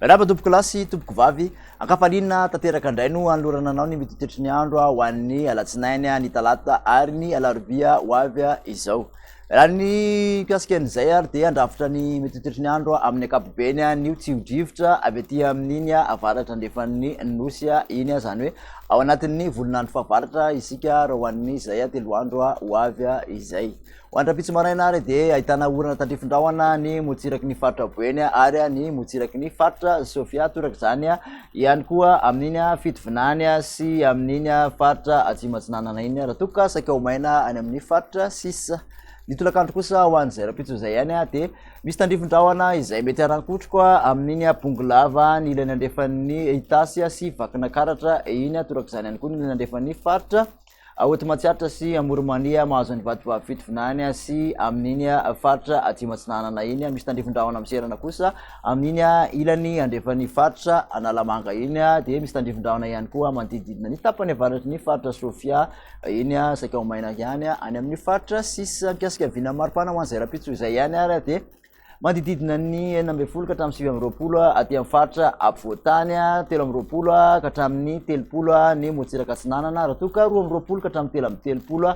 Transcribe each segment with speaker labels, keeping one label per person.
Speaker 1: Miarahaba tompoko lahy sy tompoko vavy. Ankafaliana tanteraka indray no hanolorana anao ny mitotetry ny andro ho an'ny alatsinainy, ny talata ary ny alarobia ho avy izao. Raha ny mikasika an'izay ary dia handrafitra ny mety hotritry ny andro amin'ny ankapobeny ny tsio-drivotra avy aty amin'iny avaratra andrefan'ny nosy iny, izany hoe ao anatin'ny volon'andro fahavaratra isika raha ho an'izay telo andro ho avy izay. Ho any rahampitso maraina ary dia ahitana orana tandrifin-drahona ny motsiraky ny faritra Boeny ary ny motsiraky ny faritra Sofia, torak'izany ihany koa amin'iny fitovinany sy amin'iny faritra Atsimo Atsinanana iny raha toa ka saika ho maina any amin'ny faritra sisa. Ny tolakandro kosa ho an'izay rahampitso izay ihany dia misy tandrifin-drahona izay mety harankotroko amin'iny Bongolava ny ilany andrefan'ny Itasy sy Vakinakaratra iny, torak'izany ihany koa ny ilany andrefan'ny faritra Aoty Matsiatra sy Amorimania mahazo an'i Vatovavy fito vinany sy amin'iny faritra Atsimo Atsinanana iny, misy tandrifin-drahona miserana kosa amin'iny ilany andrefan'ny faritra Analamanga iny dia misy tandrifin-drahona ihany koa manodidididina ny tapany avaratry ny faritra Sofia iny saika ho maina ihany any amin'ny faritra sisa mikasika vina maripana ho an'izay rahampitso izay ihany ary dia Manodidididina ny enina ambin'ny folo ka hatramin'ny sivy amby roapolo aty amin'ny faritra afovoan-tany, telo amby roapolo ka hatramin'ny telopolo ny morontsiraka atsinanana, raha toa ka roa amby roapolo ka hatramin'ny telo amby telopolo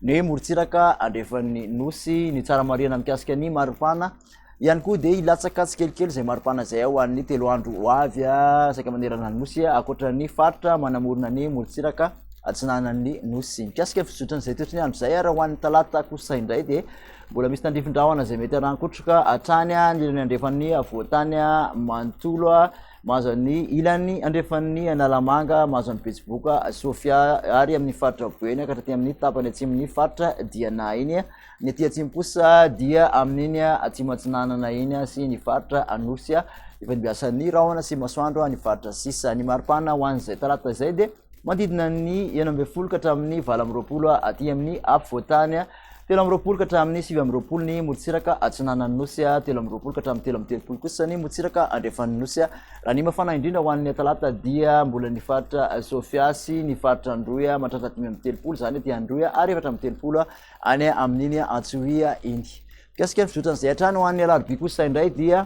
Speaker 1: ny morontsiraka andrefan'ny nosy. Ny tsara marihana mikasika ny maripana ihany koa dia hilatsaka tsikelikely izay maripana izay ho an'ny telo andro ho avy saika manerana ny nosy, ankoatra ny faritra manamorona ny morontsiraka atsinanan'ny nosy. Mikasika ny fizotran'izay toetr'ndy andro izay, raha ho an'ny talata kosa indray dia Mbola misy tandrifin-drahona izay mety harankotroka hatrany ny ilany andrefan'ny havoantany manontolo mahazo an'ny ilany andrefan'ny analamanga mahazo an'ny betsiboka sofia ary amin'ny faritra boeny ka hatraty amin'ny tapany atsimon'ny faritra dia na iny ny aty atsimposa dia amin'iny atsimo atsinanana iny sy ny faritra anosy a efa nibiasan'ny rahona sy masoandro ny faritra sisa ny maripana ho an'izay talata izay dia manodidina ny enina ambin'ny folo ka hatramin'ny valo amby roapolo aty amin'ny afovoantany Telo amby roapolo ka hatramin'ny sivy amby roapolo ny morontsiraka atsinanan'ny Nosy, telo amby roapolo ka hatramin'ny telo amby telopolo kosa ny morontsiraka andrefan'ny Nosy. Raha ny mafana indrindra ho an'ny Talata dia mbola ny faritra Sofia sy ny faritra Androy mahatratra dimy amby telopolo izany aty Androy ary efatra amby telopolo any amin'iny Antsohihy iny. Mikasika ny fizotran'izay hatrany ho an'ny Alarobia kosa indray dia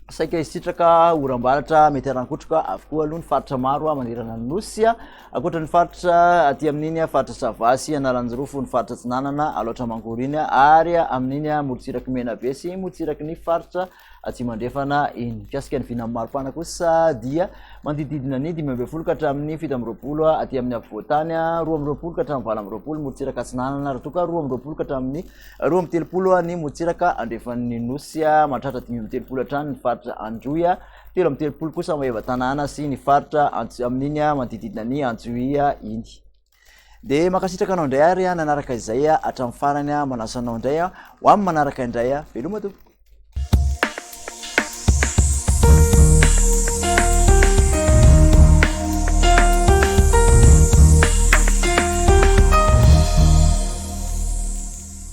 Speaker 1: saika hisitraka oram-baratra mety harankotroka avokoa aloha ny faritra maro a manerana ny nosy a ankoatra ny faritra aty amin'iny a faritra sava sy analanjirofo ny faritra tsinanana aloatra mangory iny a ary amin'iny a morontsiraky mena be sy morontsiraky ny faritra atsy mandrefana iny mikasika ny vinan'ny maripana kosa dia mandididina ny dimy ambe folo ka hatramin'ny fito amby roapolo a aty amin'ny afovoantany a roa amby roapolo ka hatramin'ny valo amby roapolo morontsiraka atsinanana raha toa ka roa amby roapolo ka hatramin'ny Roa amby telopolo ha ny motsiraka andrefan'ny nosy a mahatratra dimy amby telopolo hatrany ny faritra androy a telo amby telopolo kosa maeva tanàna sy ny faritra antsy amin'iny a manodididina ny antsoy a iny de makasitraka anao indray ary a nanaraka izay a hatramin'ny farany a manasa anao indray a ho amin'ny manaraka indray a veloma tompoko